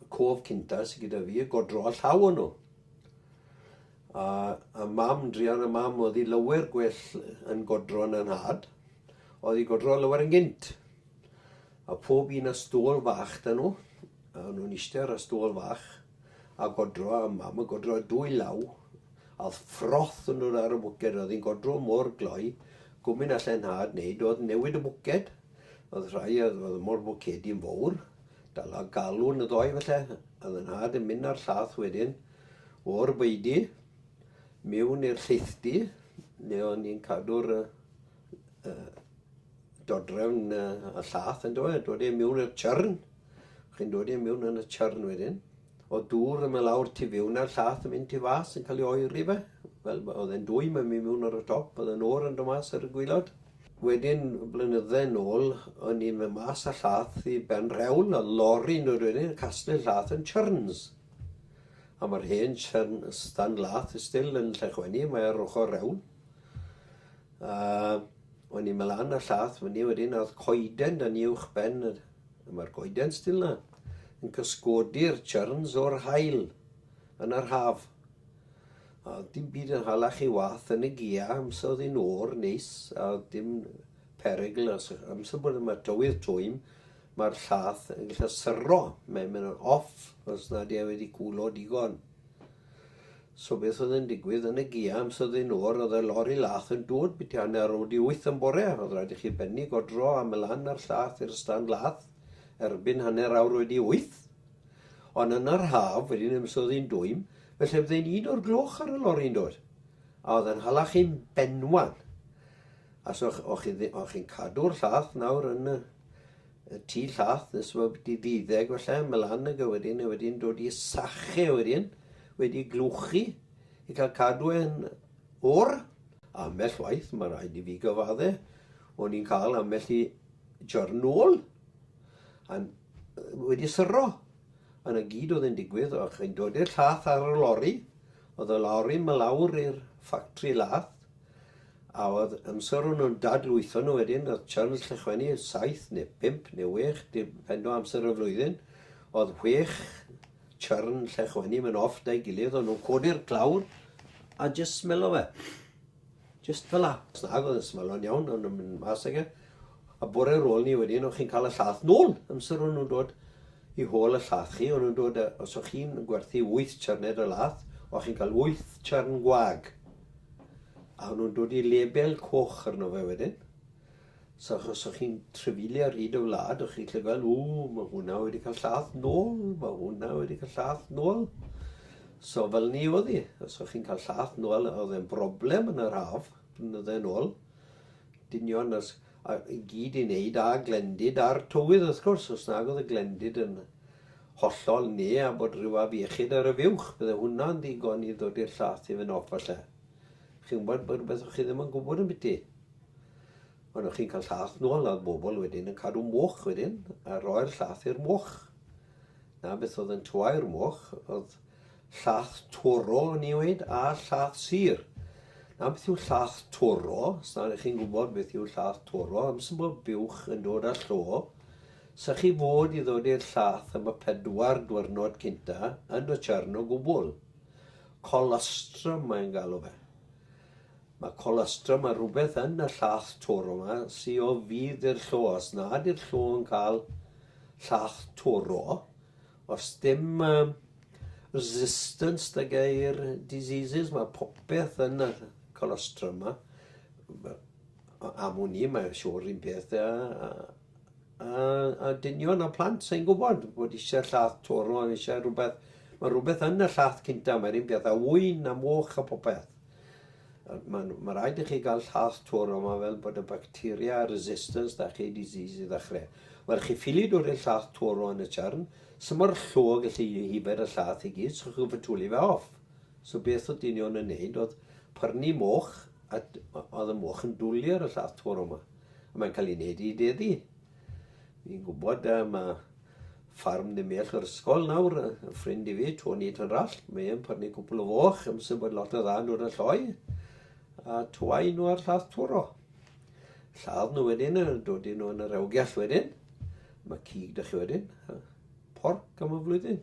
y cof cynta sydd gyda fi, godro a llaw o'n nhw. A, a mam, drian a mam, oedd hi lywer gwell yn godro yn anhad, oedd hi godro lywer yn gynt. A pob un a stôl fach dyn nhw, a nhw'n eistedd ar y stôl fach, a godro a mam a godro a dwy law, a oedd ffroth yn nhw'r ar y bwced, oedd hi'n godro mor gloi, gwmyn allan nhad wneud, oedd newid y bwced, oedd rhai oedd, oedd mor bwcedi yn fawr, Dala galon y ddoe felly, a fy nhad yn mynd â'r llath wedyn o'r beudy mewn i'r lleithdy le o'n ni'n cadw'r uh, uh, dodrefn uh, a llath yn dod, dod e mewn i'r chyrn. Chi'n dod e mewn yn y chyrn wedyn. O dŵr yma lawr tu fewn a'r llath yn mynd tu fas yn cael ei oeri fe. Fel oedd e'n dwy mae'n mynd mewn ar y top, oedd e'n o'r yn dod mas ar y gwylod. Wedyn blynydde yn ôl o'n i'n mynd mas â llath i ben rhewl a lori nôl wedyn yn casglu llath yn churns. A mae'r hen churn stan lath still yn Llechwenni, mae ar ochr rewl. A o'n i'n mynd lan â llath fyny wedyn a oedd coeden dan ni uwch ben a mae'r goeden still na yn cysgodi'r churns o'r haul yn yr haf. A oedd dim byd yn hala chi wath yn y gia, amser oedd hi'n o'r neis, a oedd dim perygl, os amser bod yma tywydd twym, mae'r llath yn gallu syro, mae'n mynd yn off os nad e wedi cwlo digon. So beth oedd yn digwydd yn y gia am sydd yn o'r oedd y lori lath yn dod byti hanner o di wyth yn bore, oedd rhaid i chi benni godro am y lan a'r llath i'r stand lath erbyn hanner awr wedi wyth. Ond yn yr haf, wedyn amser oedd hi'n dwym, Felly oedd e'n un o'r gloch ar y lori yn doedd? A oedd e'n hala chi'n benwan? A so o'ch chi ddi- o'ch chi'n cadw'r llath nawr yn y, y tu llath nes bod wedi ddiddeg falle mlan ag e wedyn, a wedyn dod i sache wedyn, wedi glwchu i cael cadw e'n o'r. Ambell waith, mae rhaid i fi gyfadde, o'n i'n cael ambell i jyrnol a'n wedi syro. A 'na gyd oedd yn digwydd, o'ch chi'n dod i'r llath ar y lori, oedd y lori ma lawr i'r ffactri lath, a oedd amser o'n nhw'n dadlwytho nhw wedyn, oedd Charles Llechwenni yn saith neu bump neu wech, dependo amser y flwyddyn, oedd wech chyrn Llechwenni yn off da'i gilydd, o'n nhw'n codi'r clawr a jyst smelo fe. Jyst fel 'na. Os nag oedd e'n smalon iawn, o'n nhw'n mynd mas ag e. A bore ar ôl 'ny wedyn, o'ch chi'n cael y llaeth nôl. Amser o'n nhw'n dod i hôl y llaeth chi, o'n nhw'n dod â... Os o'ch chi'n gwerthu wyth charned o laeth, o'ch chi'n cael wyth charn gwag. A o'n nhw'n dod i lebel coch arno fe wedyn. So achos so chi'n trefili ar hyd y wlad, o'ch chi'n llygaid, o, mae hwnna wedi cael llath nôl, mae hwnna wedi cael llath nôl. So fel ni oedd hi, os o'ch chi'n cael llath nôl, oedd e'n broblem yn yr haf, blynydde nôl. Dynion os, a, i gyd i wneud a glendid a'r tywydd wrth gwrs, os nag oedd y glendid yn hollol ne a bod rhyw afiechyd ar y fiwch, bydde hwnna'n ddigon i ddod i'r llath i fy nof falle. Chi'n gwybod bod rhywbeth o'ch chi ddim yn gwybod yn byty. Ond o'ch chi'n cael llath nôl a oedd bobl wedyn yn cadw moch wedyn a roi'r llath i'r moch. Na beth oedd yn tuai'r moch oedd llath torol o'n i weid a llath sir. Na beth yw llath toro, os na chi'n gwybod beth yw llath toro, amser bod buwch yn dod â llo, sa chi fod i ddod i'r llath am y pedwar diwrnod cynta yn y chyrn o gwbl. Colostrum mae'n galw fe. Mae colostrum a rhywbeth yn y llach toro ma sy o fudd i'r llo. Os na ydy'r llo yn cael llach toro, os dim um, resistance the gair diseases, mae popeth yn y colostrum ma. Am wn i, mae'n siŵr un peth a, a, a, a dynion a plant sy'n gwybod bod eisiau llath toro, eisiau rhywbeth. Mae rhywbeth yn y llath cynta, mae'r un peth a wyn a moch a popeth. Mae ma rhaid i chi gael llath twr yma fel bod y bacteria resistance da chi disease i ddechrau. Wel, chi ffili dod i'r llath twr yn y churn, sy'n mor llwg y lli hifer y llath i gyd, so chi'n fatuli fe off. So beth oedd dynion yn neud oedd pyrnu moch, a oedd y moch yn dwlu ar y llath twr yma. A mae'n cael ei wneud i deddi. Fi'n gwybod yy ma ffarm ddim iach yr ysgol nawr, yy y ffrind i fi, Tony Tynrall, mae e'n pyrnu cwpl o foch, yn sy'n bod lot o dda nhw'r y lloi, a twau nhw ar llath twro. Lladd nhw wedyn, a dod i nhw yn yr ewgiall wedyn, mae cig da chi wedyn, a porc am y flwyddyn.